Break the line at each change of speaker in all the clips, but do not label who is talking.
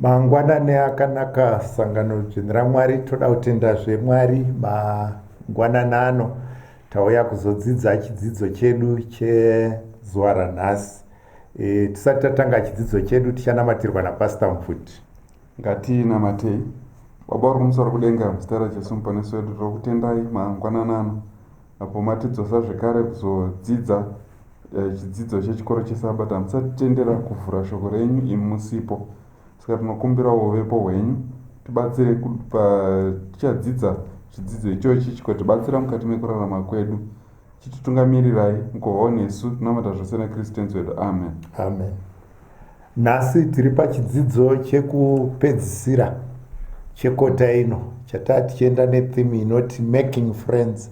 mangwanani akanaka sangano dzvene ramwari toda kutenda zvemwari mangwanani ano tauya kuzodzidza chidzidzo chedu chezuva ranhasi e, tisati tatanga chidzidzo chedu tichanamatirwa napastor mfuti ngatinamatei
baba uri kumusoro kudenga muzita rajesu muponesi wedu tiri kutendai mangwanani ano Apo matidzosa zvekare kuzodzidza eh, chidzidzo chechikoro chesabata hamusatitendera kuvhura shoko renyu imi musipo saka tinokumbira uvepo hwenyu tibatsire patichadzidza chidzidzo ichochi chikotibatsira mukati mekurarama kwedu chititungamirirai mukuvawo nesu tinamata zvose nekristu tenzi wedu amen amen
Nhasi tiri pachidzidzo chekupedzisira chekota ino chataa tichienda netheme inoti making friends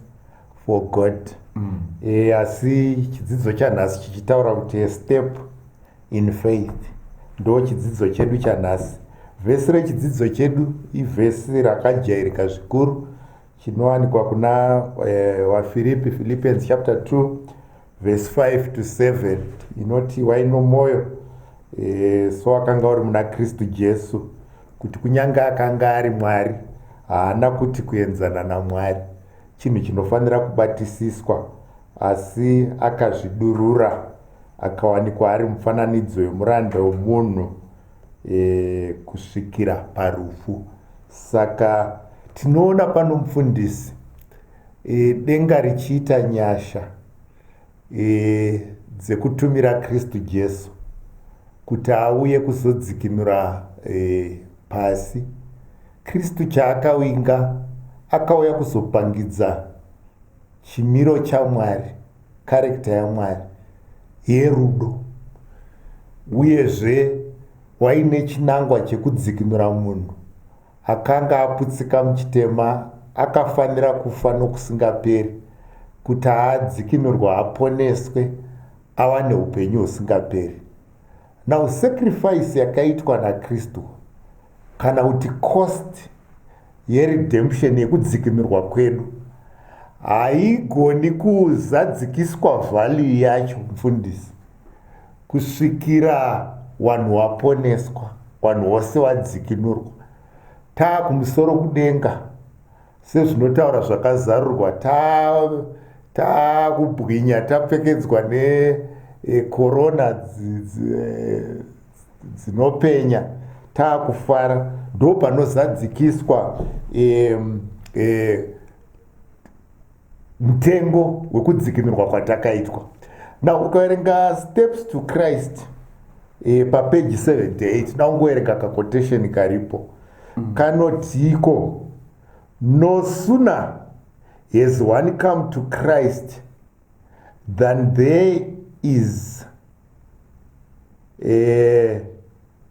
for god mm. e, asi chidzidzo chanhasi chichitaura kuti step in faith ndo chidzidzo chedu chanhasi vhesi rechidzidzo chedu ivhesi rakajairika zvikuru chinowanikwa kuna e, wafiripi philippians chapter 2 vhesi 5 to 7 inoti wai nomwoyo e, so akanga uri muna kristu jesu kuti kunyange akanga ari mwari haana kuti kuenzana namwari chinhu chinofanira kubatisiswa asi akazvidurura akawanikwa ari mufananidzo yemuranda wemunhu e, kusvikira parufu saka tinoona pano mufundisi e, denga richiita nyasha e, dzekutumira kristu jesu kuti auye kuzodzikinura e, pasi kristu chaakawinga akauya kuzopangidza chimiro chamwari karekta yamwari yerudo uyezve waine chinangwa chekudzikinura munhu Akanga aputsika muchitema akafanira kufa nokusingaperi kuti adzikinurwa aponeswe awane upenyu husingaperi. Now sacrifice yakaitwa naKristu kana kuti cost yeredemption yekudzikinurwa kwedu haigoni kuzadzikiswa value yacho mfundisi kusvikira wanhu waponeswa wanhu wose wadzikinurwa taa kumusoro kudenga sezvinotaura zvakazarurwa taa taa kubwinya tapfekedzwa nekorona e, e, dzinopenya taa kufara ndo panozadzikiswa e, e, mutengo wekudzikinurwa kwatakaitwa na ukaverenga steps to christ e, papeji 78 na ungoverenga kaquotation karipo mm. kanotiiko no sooner has one come to christ than there is e,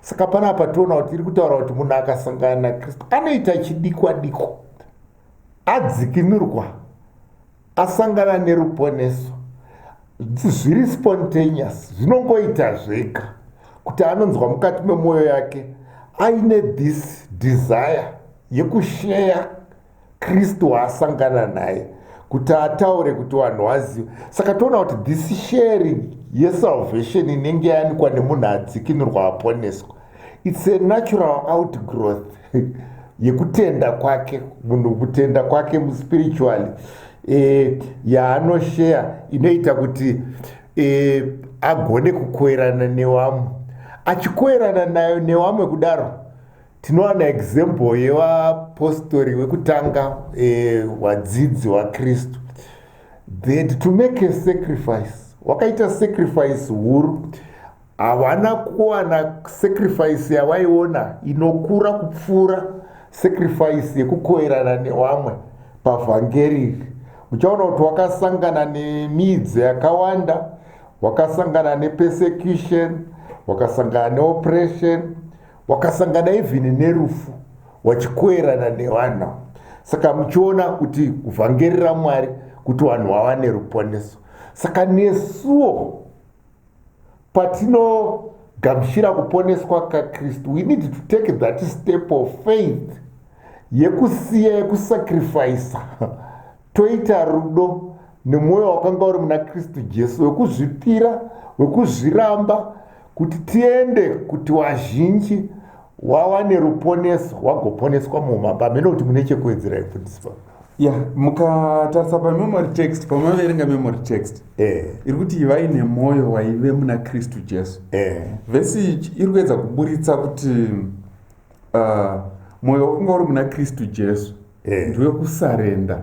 saka panapa tiona kuti iri kutaura kuti munhu akasangana nakristu anoita chidikwa dikwa adzikinurwa asangana neruponeso zviri spontaneous zvinongoita zvega kuti anonzwa mukati memwoyo yake aine this desire yekusheya kristu waasangana naye kuti ataure kuti vanhu vazive saka toona kuti this sharing yesalvation inenge yanikwa nemunhu adzikinurwa aponeswa its a natural outgrowth yekutenda kwake munhu kutenda kwake muspiritually e, yaanosheya inoita kuti e, agone kukoerana newamwe achikoerana nayo newamwe kudaro tinowana example yevapostori wekutanga eh, wadzidzi wakristu that to make a sacrifice wakaita sacrifice huru havana kuwana sacrifice yavaiona inokura kupfuura sacrifice yekukoerana newamwe pavhangeri uchaona kuti wakasangana nemidzi yakawanda wakasangana nepersecution wakasangana neoppression wakasangana even nerufu wachikoerana nevanhu saka muchiona kuti kuvhangeri ramwari kuti vanhu vava neruponeso saka nesuwo patinogamuchira kuponeswa kakristu we need to take that step of faith yekusiya yekusacrifisa toita rudo nemwoyo wakanga uri muna kristu jesu wekuzvipira wekuzviramba kuti tiende kuti wazhinji wawane ruponeso wagoponeswa muumambo hamene kuti mune chekuwedzera ifundisi pa ya
mukatarisa pamemory text pamaverenga memory text eh. iri kuti ivai nemwoyo waive muna kristu jesu eh. vhesi ichi iri kuedza kuburitsa kuti uh, mwoyo wakanga uri muna kristu jesu eh. ndiwe kusarenda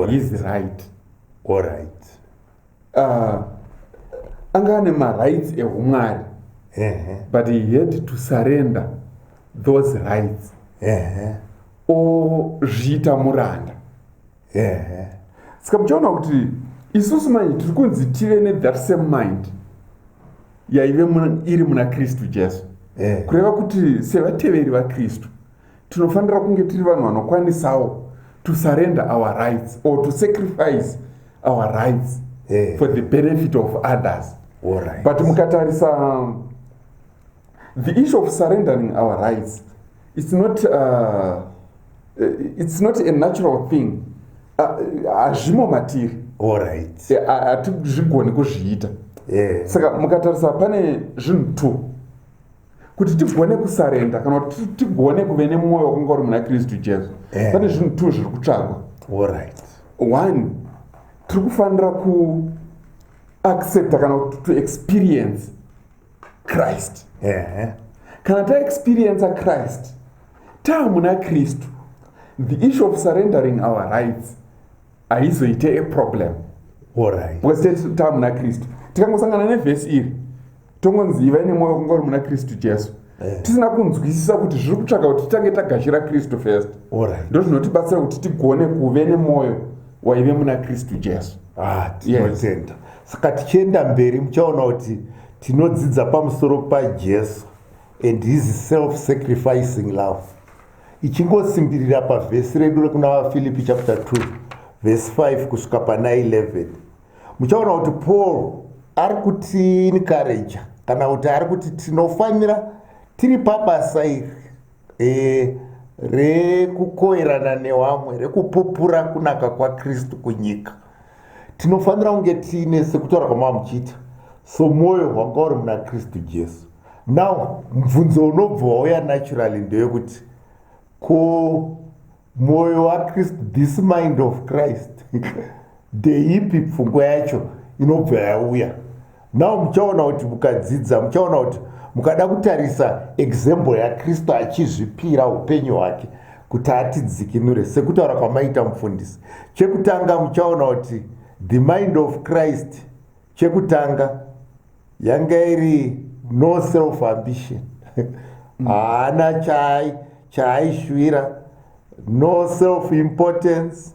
his right orit
uh, ah,
anga ane marights ehumwari but he had to surrender those rights ozviita muranda saka muchaona kuti isusu manje tiri kunzi tive nethat same mind yaive iri muna kristu jesu kureva kuti sevateveri vakristu tinofanira kunge tiri vanhu vanokwanisawo to surrender our rights or to sacrifice our rights yeah. for the benefit of others right. but
mukatarisa
um, the issue of surrendering our rights it's not uh, uh it's not a natural thing hazvimo uh, matiri right. Eh, hatizvigoni kuzviita yeah. saka mukatarisa pane zvinhu two kuti tigone kusarenda kana kuti tigone kuve nemwoyo wakunga uri muna kristu jesu eh. pane zvinhu two zviri kutsvagwa orit one tiri kufanira kuaccepta kana kuti to experience christ eh. kana taexperienca christ taa muna kristu the issue of surrendering our rights haizoite eproblem because tese taa muna kristu tikangosangana nevhesi iri tongonzi ivai nemwoyo kungori muna kristu jesu eh. tisina kunzwisisa kuti zviri kutsvaka kuti titange tagashira kristu first ndo zvinotibatsira kuti tigone kuve nemwoyo waive muna kristu jesu ah, tinotenda
saka tichienda mberi muchaona kuti tinodzidza pamusoro pajesu and his self sacrificing love ichingosimbirira pavhesi redu rekuna vafilipi chapter 2 vhesi 5 kusvika pana 11 muchaona kuti paul ari kutiinikareja kana kuti ari kuti tinofanira tiri pabasa iri e, rekukoerana newamwe rekupupura kunaka kwakristu kunyika tinofanira kunge tiine sekutaura kwamava muchiita so mwoyo hwanga uri muna kristu jesu now mubvunzo unobva wauya naturally ndeyekuti ko mwoyo wakristu this mind of christ ndeipi pfungwa yacho inobva yauya now muchaona kuti mukadzidza muchaona kuti mukada kutarisa example yakristu achizvipira upenyu hwake kuti atidzikinure sekutaura kwamaita mufundisi chekutanga muchaona kuti the mind of christ chekutanga yanga iri no self ambition mm. haana mm. chai chaaishuvira no self importance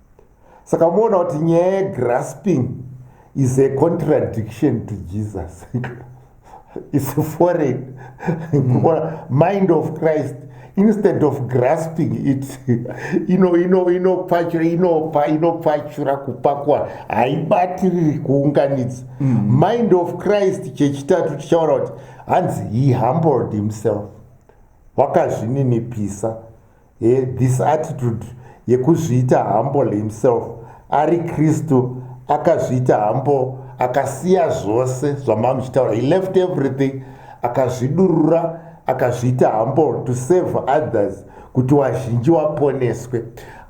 saka moona kuti nyaya yegrasping is a contradiction to jesus is foreign mm. mind of christ instead of grasping it inopfachura kupakwa haibatiriri kuunganidza mm. mind of christ chechitatu tichaona kuti hanzi he humbled himself wakazvininipisa He, this attitude yekuzviita humble himself ari kristu akazviita humble akasiya zvose zvamamuchitaura he left everything akazvidurura akazviita humble to save others kuti wazhinji waponeswe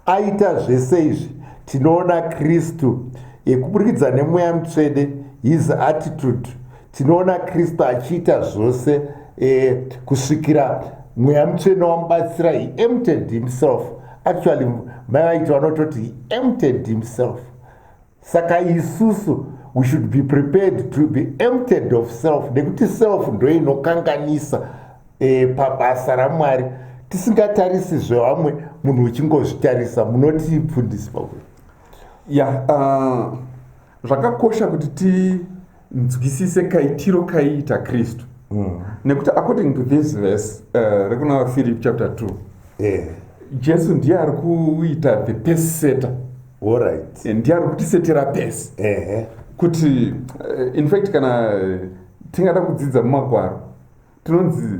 aita zvese izvi tinoona kristu yekuburikidza nemweya mutsvede his attitude tinoona kristu achiita zvose e, kusvikira mweya mutsvene wamubatsira he empted himself actually mai vaiti vanototi he empted himself saka isusu we should be prepared to be empted of self nekuti self ndo inokanganisa e, pabasa ramwari tisingatarisi zvevamwe munhu uchingozvitarisa munoti pfundisi pakuti ya yeah, uh,
zvakakosha kuti ti nzwisise kaitiro kaiita kristu mm. nekuti according to this verse uh, rekuna philip chapter 2 yeah. jesu ndiye ari kuita the pese seta right.
Eh, ndiye ari kutisetera
pese uh -huh. kuti uh, in fact kana uh, tingada kudzidza mumagwaro tinonzi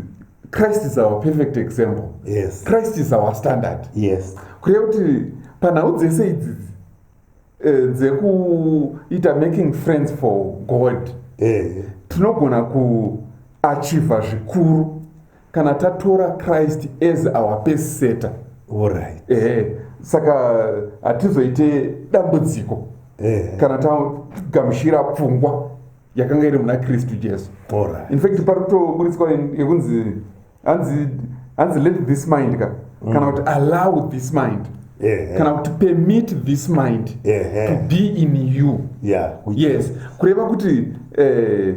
christ is our perfect example yes. christ is
our standard
yes. kureva
kuti
panhau dzese idzidzi eh, dzekuita making friends for god eh. tinogona kuachiva zvikuru kana tatora christ as our peseta right.
eh, saka
hatizoite dambudziko eh. kana tagamushira pfungwa yakanga iri muna kristu jesu right. infact pari
kutoburitswa
yekunzi hanzi hanzi let this mind ka mm. kana kuti allow this mind yeah. kana kuti permit this mind yeah. to be in you yeah. yes kureva kuti eh,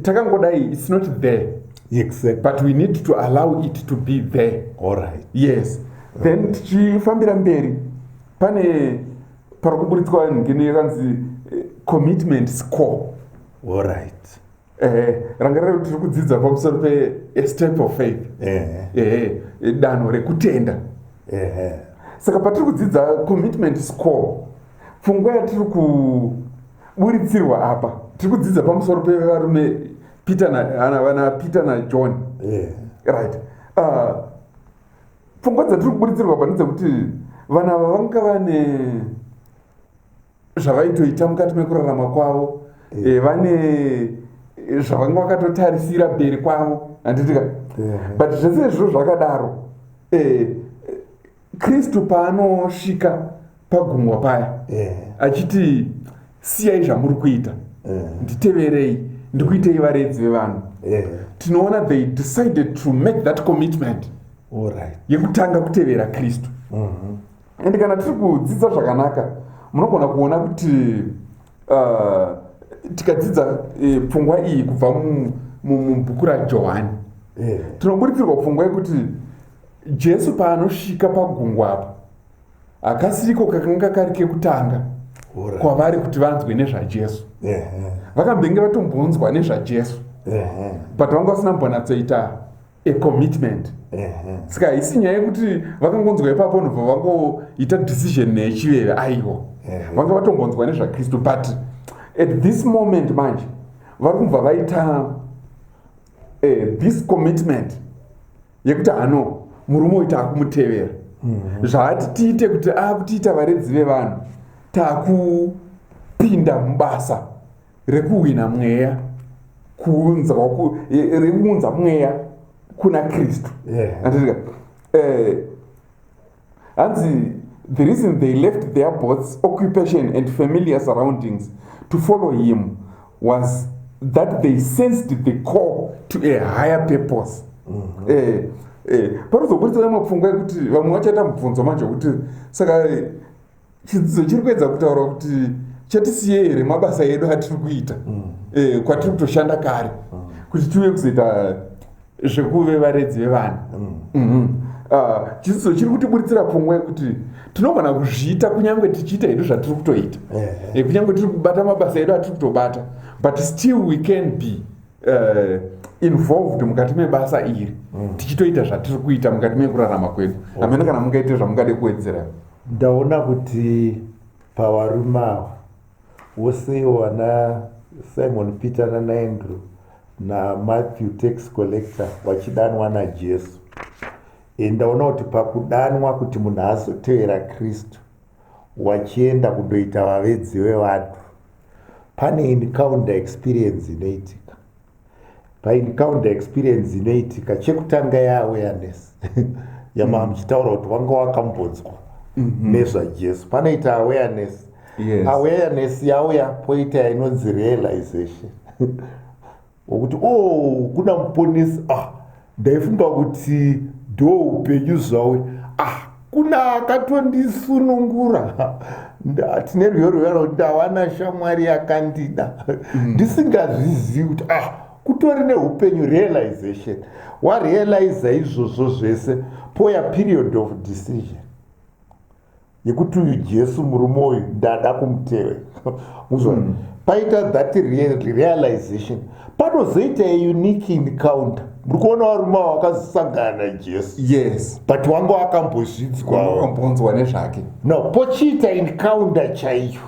takangodai its not there exactly. but we
need to
allow it to be there All right. yes
then
tichifambira mberi pane pari kuburitswa ngini yakanzi eh, commitment score All right.
ehe rangarira
kuti tiri kudzidza pamusoro pestep of faith ehe danho rekutenda ehe saka patiri kudzidza commitment score pfungwa yatiri kuburitsirwa apa tiri kudzidza pamusoro pevarume peter vana peter najohn right ah, pfungwa dzatiri kuburitsirwa pane dzekuti vana ava vanga vane zvavaitoita mukati mekurarama kwavo eh. Eh, vane eh, zvavanga vakatotarisira beri kwavo handitika but zvese izvo zvakadaro kristu paanosvika pagumwa paya achiti siyai zvamuri kuita nditeverei ndikuitei varedzi vevanhu tinoona they decided to make that commitment
yekutanga kutevera
kristu mm-hmm. and kana tiri kudzidza zvakanaka munogona kuona kuti uh, tikadzidza eh, pfungwa uh, iyi kubva mubhuku rajohani yeah. tinoburitsirwa pfungwa yekuti jesu paanosvika pagungwa apa hakasiriko kakanga kari kekutanga kwavari kuti vanzwe nezvajesu yeah, yeah. vakambenge vatombonzwa nezvajesu yeah, yeah. but vanga vasina mbonatsoita a commitment saka haisi nyaya yekuti vakangonzwa ipapo nobva vangoita decision nechiveve aiwa vanga vatongonzwa nezvakristu but at this moment manje vari kubva vaita eh, this commitment yekuti hano murume uyu taakumutevera mhm. zvaati tiite kuti akutiita varedzi vevanhu takupinda mubasa rekuhwina mweya kuunzwa rekuunza mweya kuna kristu anditika eh, hanzi the reason they left their bots occupation and familiar surroundings to follow him was that they sensed the call to a higher purpose mm-hmm. eh, eh, panozoburitsa vamwe pfungwa yekuti vamwe vachaita mubvunzo manje wekuti saka chidzidzo chiri kuedza kutaura kuti chatisiye here mabasa edu atiri kuita mm. eh, kwatiri kutoshanda kare mm. kuti tiuye kuzoita zvekuve varedzi vevana mm. mhm. ah, chidzidzo chiri kutiburitsira pfungwa yekuti tinogona kuzviita kunyange tichiita hedu zvatiri kutoita eh, kunyange tiri kubata mabasa edu atiri kutobata but still we can be eh, involved mukati mebasa iri tichitoita zvatiri kuita mukati mekurarama kwedu amene kana mungaite zvamungade kuwedzera Ndaona
kuti pavarume ava vose ivo vana Simon Peter nanaAndrew naMatthew tax collector vachidanwa naJesu. E, ndaona kuti pakudanwa kuti munhu azotevera Kristu wachienda kundoita vavedzi vevanhu pane encounter experience inoitika. paencounter experience inoitika chekutanga yeawareness yamaa mm. muchitaura kuti wanga wakambonzwa mm-hmm. nezvajesu panoita awareness yes. awareness yauya poita yainonzi realization wokuti o oh, kuna muponisi ah ndaifunga kuti do upenyu zvawe ah kuna akatondisunungura tine rwiyo rwuyaro kuti ndawana shamwari yakandida mm. ndisingazvizivi kuti ah kutori neupenyu realization warealiza izvozvo zvese poya period of decision yekuti uyu jesu murume uyu ndada kumutevera muzvona mm. paita that realization panozoita unique encounter muri kuona varume ava vakazosangana najesu yes but wanga wakambozvidzwawakambonzwa nezvake
no pochiita
encounter chaiyo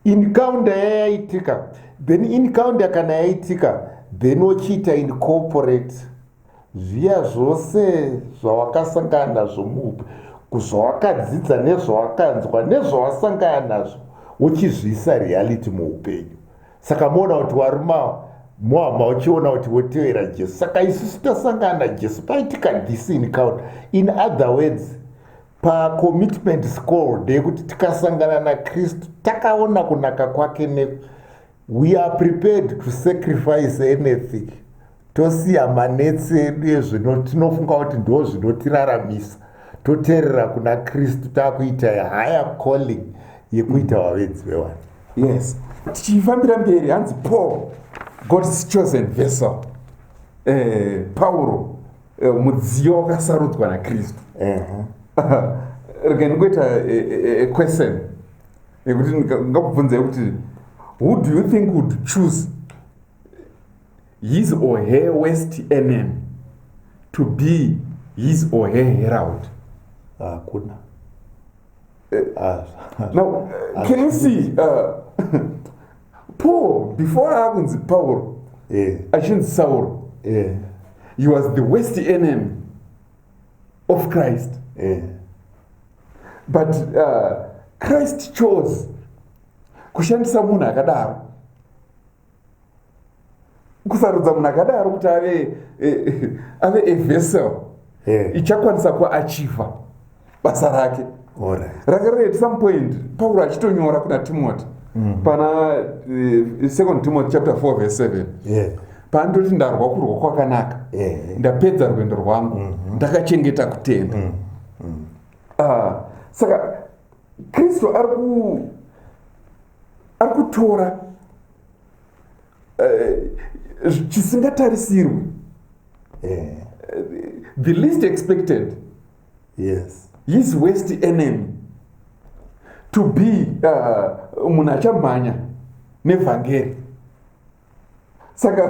encounter yayaitika then encounter kana yaitika then wochiita incorporate Ziva zvose zvawakasangana nazvo muupe, kuzvawakadzidza nezvawakanzwa nezvawasangana nazvo uchizviisa reality muupenyu. Saka moona kuti waruma muhama uchiona kuti wotevera Jesu. Saka isusu tasangana naJesu paitika this encounter. In other words, pacommitment school ndeyekuti tikasangana naKristu takaona kunaka kwake ne We are prepared to sacrifice anything tosiya manetsi edu ezvinotinofunga kuti ndo zvinotiraramisa toteerera kuna kristu takuita higher calling yekuita vavedzi vewani yes
tichifambira mberi hanzi paul god's chosen vessel eh, pauro eh, mudziyo wakasarudzwa nakristu rega ndikuita eh, eh, eh, question nekuti ngakubvunzai kuti who do you think would choose his or her west nm to be his or her herald hakuna
eh, ah,
ah, now ah, can you see uh, paul before akunzi paul eh. achinzi sauro eh. he was the west nm of christ yeah. but uh, christ chose kushandisa munhu akadaro kusarudza munhu akadaro kuti ave eh, ave a vessel yeah. ichakwanisa kuachiva basa rake ranga riri at some point pauro achitonyora kuna timoti mm. pana uh, second timoti chapter 4 verse 7 yeah pandoti ndarwa kurwa kwakanaka eh. ndapedza rwendo rwangu mhm. ndakachengeta kutenda mhm. Mhm. Ah, saka kristu ari kutora eh, chisingatarisirwi eh. the least expected yes his west enemy to be uh, munhu achamhanya nevhangeri saka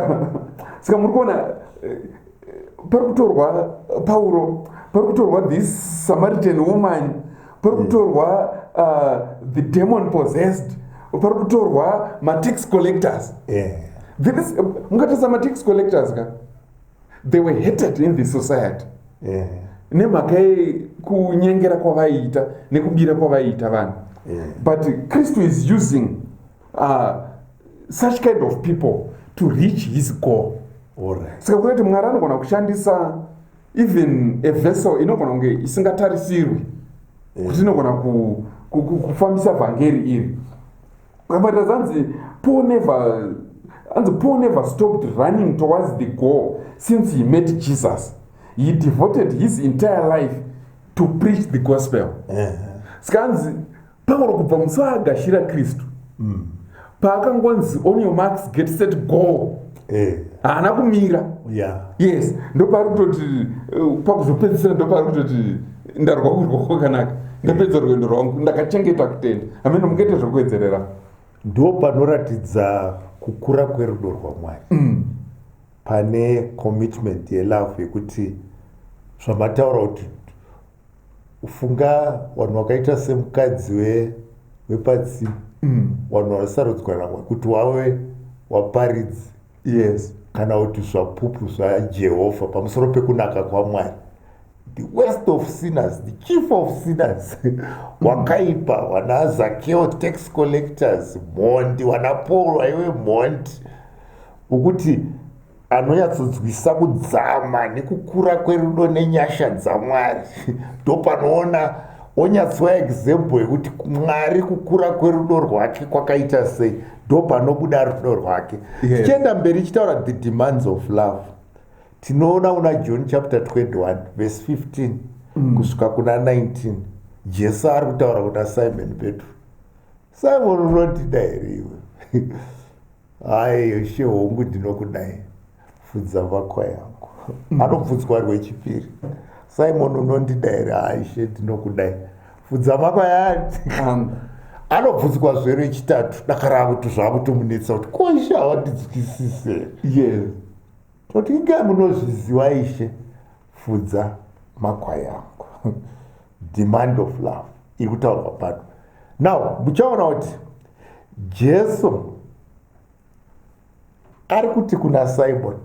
saka muri kuona eh, pari kutorwa pauro pari kutorwa this samaritan woman pari kutorwa uh, the demon possessed pari kutorwa matax collectors yeah. mungatasa matax collectors ka yeah. they were hated in the society yeah. nemhaka yekunyengera kwavaiita nekubira kwavaiita vanhu yeah. but kristu is using uh, such kind of people to reach his goal right. saka kuona kuti mwari anogona kushandisa even a vessel inogona kunge isingatarisirwi yeah. kuti inogona kufambisa ku, ku, vhangeri iri But as hanzi Paul never hanzi Paul never stopped running towards the goal since he met Jesus. He devoted his entire life to preach the gospel. Saka hanzi Paul kubva musi waagashira Kristu mm. paakangonzi on your marks get set goal eh. haana kumira yes ndopaari kutoti eh, pakuzopedzisira ndopaari kutoti ndarwa kurwa kwakanaka ndapedza rwendo rwangu ndakachengeta kutenda amene mukaita zvekuwedzerera ndo
panoratidza kukura kwerudo rwamwari mm. pane commitment yelove yekuti zvamataura kuti ufunga vanhu vakaita semukadzi wepatsima mm. vanhu vanosarudzwa namwari kuti wave waparidzi yes kana kuti zvapupu zvajehovha pamusoro pekunaka kwamwari the worst of sinners the chief of sinners wakaipa wana zakeo tax collectors mhondi wana paul aiwe mhondi ukuti anonyatsodzwisa kudzama nekukura kwerudo nenyasha dzamwari ndopanoona onyatsova example yekuti mwari kukura kwerudo rwake kwakaita sei ndopanobuda rudo rwake tichienda mberi chitaura the demands of love tinoona una john chapter 21 vese 15 mm. kusvika kuna 19 jesu ari kutaura kuna simon petro simon unondida here iwe hayi she hongu ndinokudai fudza vakwa yangu mm. anobvunzwa rwechipiri simon unondida here hayi she ndinokudai fudza vakwa yati anobvunzwa zve rechitatu dakaravo tuzvakutomunetsa kuti kosha wandidzikisise yes
Toti
inge munozviziva ishe fudza makwai angu demand of love iri kutaurwa pano now muchaona kuti jesu ari kuti kuna simoni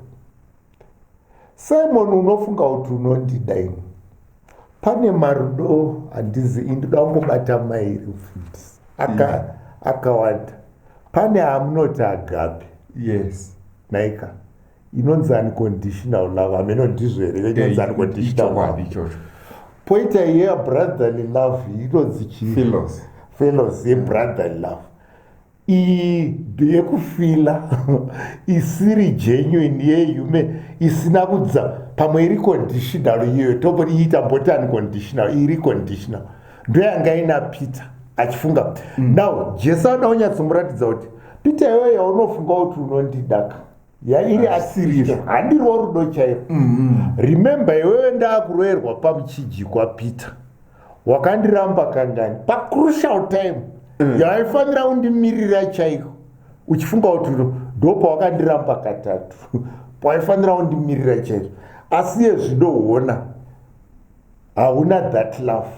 simoni unofunga kuti unondida ini pane marudo handizi indoda kungobata mairi mfundisi akawanda pane amunoti agape yes
naika
inonzi unconditional love hameno ndizvo here inonzi unconditional love poita iye yabrotherly love inonzi chii fellows yebrotherly love iyi yekufila isiri genuine yehume isina kudza pamwe iri conditional iyoyo tobori iita mbotani conditional iri conditional ndoyanga ina peter achifunga mm. now jesu anoda kunyatsomuratidza kuti peter iyoyo yaunofunga kuti unondidaka yairi asiriro handirwo rudo chairo mm-hmm. remember iwewe ndaakuroerwa pamuchijikwa peter wakandiramba kangani pacrucial time mm. yaifanira undimirira chaiko uchifunga kuti ndo pawakandiramba katatu pawaifanira undimirira chaiko asi yezvidoona hauna that love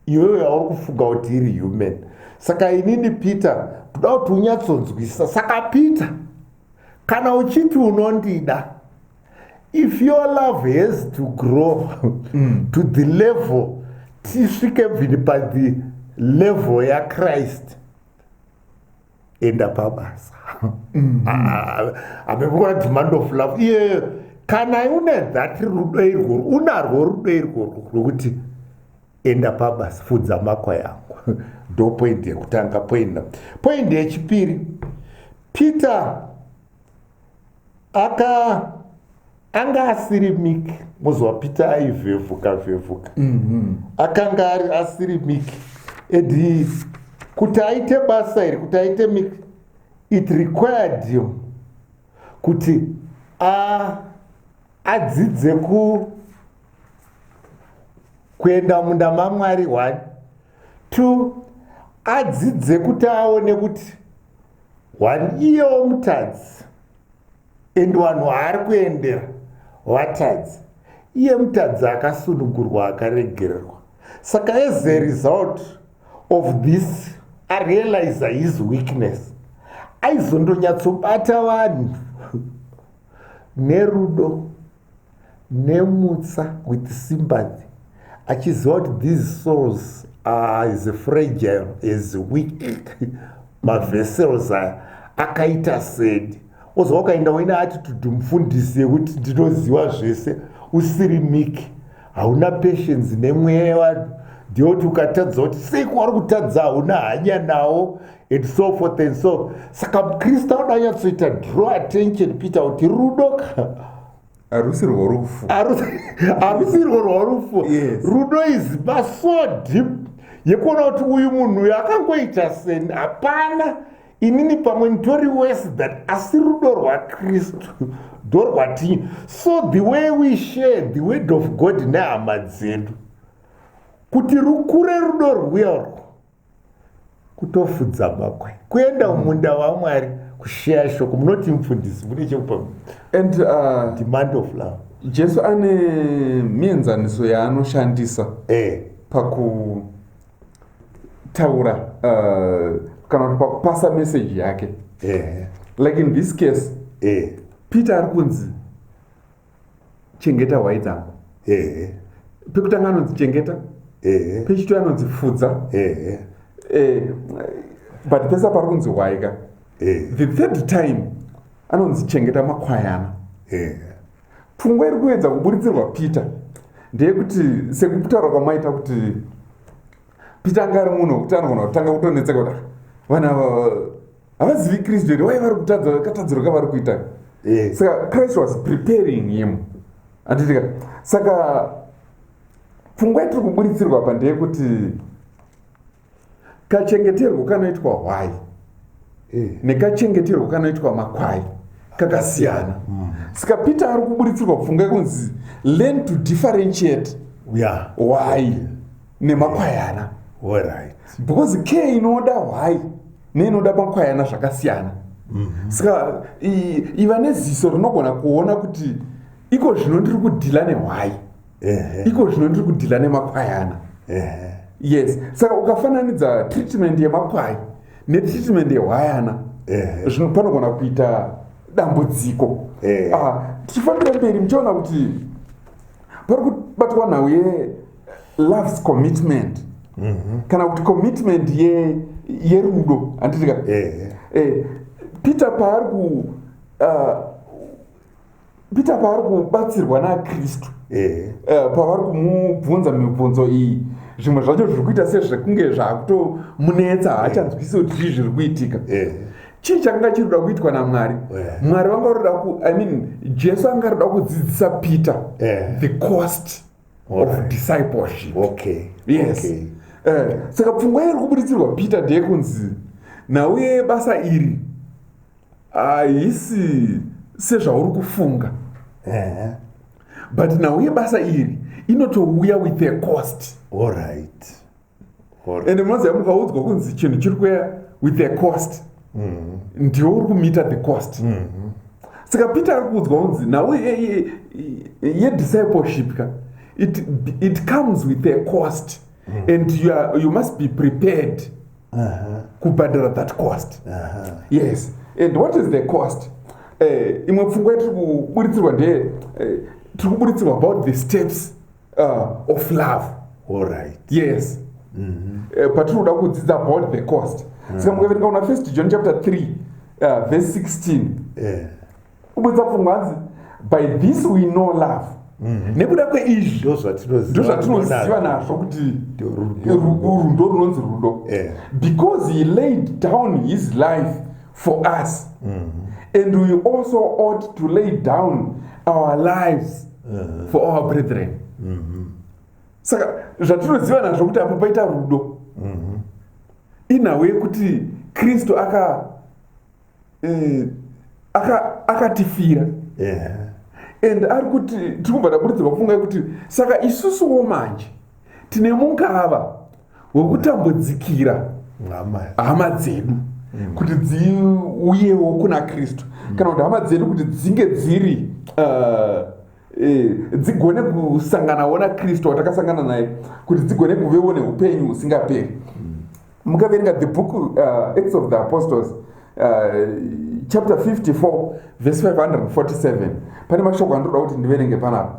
iwewe yauri kufunga kuti iri human saka inini peter kuda kuti unyatsonzwisisa saka peter kana uchiti unondida if your love has to grow mm. to the level tisvike bvini padi level yachrist enda pabasa mm-hmm. ah, amekuona demand of love iye kana une that rudo irwo unarwo rudo irworwo rwekuti enda pabasa fudza makwa yangu ndopoindi yekutanga poina poindi yechipiri peter aka anga asiri miki moziva peter aivhevhuka vhevhuka mm -hmm. akanga ari asiri miki edi kuti aite basa iri kuti aite miki it required him kuti adzidze ku kuenda munda mamwari one two adzidze kuti aone kuti one year womutadzi and vanhu vaari kuendera vatadzi iye mutadzi akasunungurwa akaregererwa saka as a result of this arealiza his weakness aizondonyatsobata vanhu nerudo nemutsa with sympathy achiziva kuti these souls are as fragile as weak mavessels aya akaita sed oziva ukaenda uine attitude mufundisi yekuti ndinoziva zvese usiri miki hauna patience nemweya yevanhu ndiyoti ukatadza kuti sei kwauri kutadza hauna hanya nawo and so forth and so saka mukristu anoda anyatsoita draw attention kuita kuti rudo ka harusi
rworufu harusi
rwo rworufu rudo is baso deep yekuona kuti uyu munhu uyo akangoita seni hapana inini pamwe nditori wese that asi rudo rwakristu ndo rwatinyi so the way we share the word of god nehama dzedu kuti rukure rudo rwuya urwo kutofudza makwai kuenda mm. mumunda wamwari kusheya shoko munoti mufundisi mune chekupa and uh,
demand of
love jesu ane
mienzaniso yaanoshandisa eh. pakutaura uh, kana kuti pakupasa meseji yake eh. like in this case eh. peter ari kunzi chengeta hwai dzangu ehe pekutanga anonzi chengeta ehe pechitoi anonzi fudza ehe eh, but pesa pari kunzi hwai ka ehe the third time anonzi chengeta makwayana ehe pfungwa iri kuedza kuburitsirwa peter ndeyekuti sekutaura kwamaita kuti peter anga ari munhu wekuti anogona kutanga kutonetseka kuti "Ah, vana ava havazivi kristu here wai vari kutadza katadziro kavari kuita eh. saka christ was preparing him anditika saka pfungwa yatiri kuburitsirwa apa ndeyekuti kachengeterwo kanoitwa hwai eh. nekachengeterwo kanoitwa makwai kakasiyana mm. saka peter ari kuburitsirwa pfungwa yekunzi learn to differentiate why nemakwayana right. because care inoda hwai neinoda makwayana zvakasiyana mm -hmm. saka iva neziso rinogona kuona kuti iko zvino ndiri kudhila nehwai iko zvino ndiri kudhila nemakwayana yes saka ukafananidza treatment yemakwai netreatment yehwayana zvino panogona kuita dambudziko ah, tichifambira mberi muchiona kuti pari kubatwa nhau ye loves commitment mm -hmm. kana kuti commitment yerudo ye handitika eh. eh, peter paari ku uh, peter paari kubatsirwa nakristu eh. uh, pavari kumubvunza mibvunzo iyi zvimwe zvacho zviri kuita sezvekunge zvaakutomunetsa haachanzwisi kuti chii zviri kuitika eh. chii chakanga chiri kuda kuitwa namwari eh. mwari vanga roda ku i mean jesu anga roda kudzidzisa peter eh. the cost of Alright. discipleship Okay. yes Okay. Eh, saka pfungwa iri kuburitsirwa peter ndeyekunzi nhau yebasa iri haisi sezvauri kufunga Eh. but nhau yebasa iri inotouya with a cost Alright. and munoziva mukaudzwa kunzi chinhu chiri kuya with a cost mm-hmm. ndiwe uri kumiita the cost mm-hmm. saka peter ari kuudzwa kunzi nhau yediscipleship ka it, it comes with a cost mm. and you, are, you must be prepared uh-huh. kubhadhara that cost uh-huh. yes and what is the cost uh, imwe pfungwa yatiri kuburitsirwa ndeye uh, tiri kuburitsirwa about the steps uh, of love all right yes mm -hmm. uh, eh, patinoda kudzidza about the cost mm. saka mukaverenga una first john chapter 3 uh, verse 16 yeah. ubudza pfungwa hanzi by this we know love mhm. nekuda kweizvi ndo zvatinoziva nazvo kuti rudo runonzi rudo because he laid down his life for us mm -hmm. and we also ought to lay down our lives mm -hmm. for our brethren mm -hmm. saka zvatinoziva nazvo kuti apo paita rudo mm -hmm. inhawu yekuti kristu aka eh, akatifira aka yeah. and ari kuti tiri kubva taburudzirwa kufunga yekuti saka isusuwo manje tine mungava wekutambudzikira hama dzedu mm. kuti dziuyewo kuna kristu mm. kana kuti hama dzedu kuti dzinge dziri uh, eh, dzigone kusanganawo nakristu watakasangana naye kuti dzigone kuvewo neupenyu husingaperi mm. mukaverenga the book uh, acts of the apostles uh, chapter 54 verse 547 pane mashoko andoda kuti ndiverenge panapa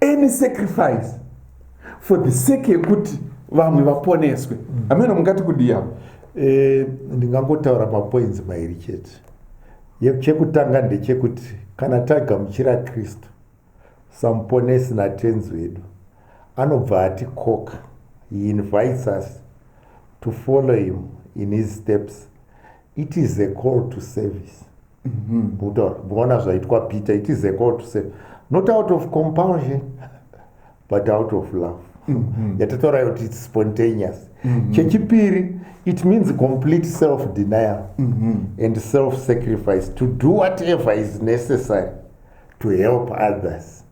any sacrifice for the sake yekuti vamwe vaponeswe mm. ameno mungati kudiya eh,
ndingangotaura mapoints mairi chete chekutanga ndechekuti kana tagamuchira kristu samuponesi natenzi wedu anobva atikoka he invites us to follow him in his steps it is a call to service mm-hmm. kutaura muona zvaitwa peter it is a call to say not out of compulsion but out of love mm-hmm. yatataura yoti its spontaneous mm-hmm. chechipiri it means complete self denial and self sacrifice to do whatever is necessary to help others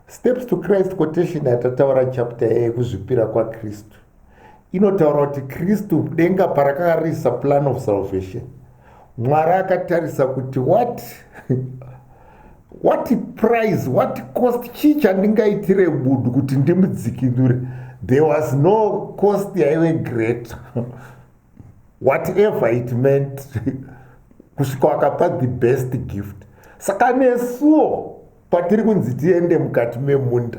steps to christ quotation yatataura chapter yekuzvipira kwakristu inotaura kuti kristu denga parakanga riisa plan of salvation mwari akatarisa kuti what what price what cost chii chandingaitire budu kuti ndimudzikinure there was no cost yaive greater whatever it meant kusvika wakapa the best gift saka nesuo patiri kunzi tiende mukati memunda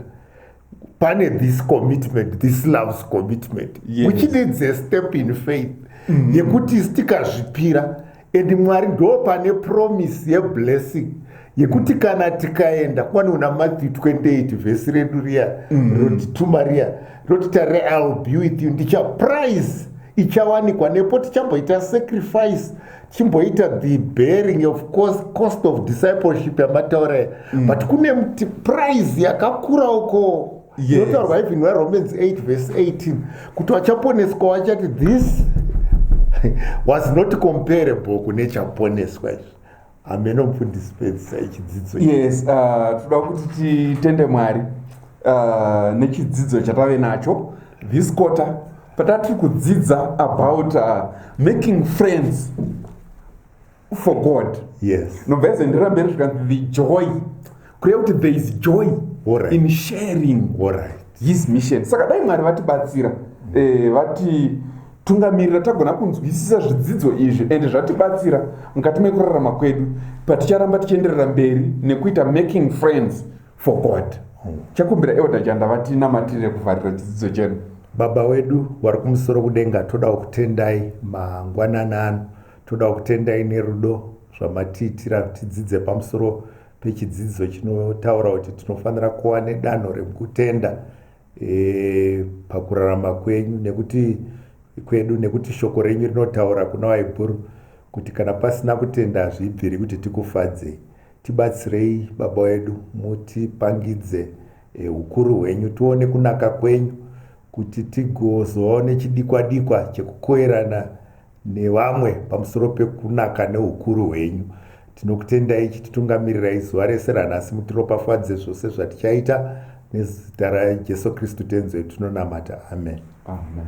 pane this commitment this loves commitment yes. which needs a
step
in faith mm -hmm. yekuti sitikazvipira and mwari ndo pane promise yeblessing yekuti kana tikaenda kwani una matthew 28 vhesi redu riya mm. roti tuma riya roti tare ill be with you ndichaprize ichawanikwa nepo tichamboita sacrifice chimboita the bearing of course cost of discipleship yamataura mm. but kune mti price yakakura uko inotaurwa yes.
even waromans
8 verse 18 kuti wachaponeswa wachati this was not comparable kune chaponeswa izvi ameno mfundisi pedzisa ichidzidzo yes uh,
toda kuti titende mwari uh, nechidzidzo chatave nacho this quarter patatiri kudzidza about uh, making friends for god yes nobva yese
ndira mberi
zvikanzi the joy kureva kuti there is joy right. in
sharing
right. his
mission saka
dai mwari vatibatsira eh, vati tungamirira tagona kunzwisisa zvidzidzo izvi and zvatibatsira mukati mekurarama kwedu paticharamba tichienderera mberi nekuita making friends for god hmm. chakumbira elder janda vatinamatire kuvharira chidzidzo chenu baba wedu
wari kumusoro kudenga todawo kutendai mangwanana ano todawo kutendai nerudo zvamatiitira tidzidze pamusoro pechidzidzo chinotaura kuti tinofanira kuva nedanho rekutenda e, pakurarama kwenyu nekuti kwedu nekuti shoko renyu rinotaura kuna waibhuru kuti kana pasina kutenda hazvibviri kuti tikufadzei Tibatsirei baba wedu mutipangidze eh, ukuru hwenyu tione kunaka kwenyu kuti tigozovawo nechidikwa dikwa chekukoerana nevamwe pamusoro pekunaka neukuru hwenyu tinokutendai chititungamirirai zuva rese ranhasi mutiropafadze zvose zvatichaita nezita rajesu kristu tenzi
wedu
tinonamata amen, amen.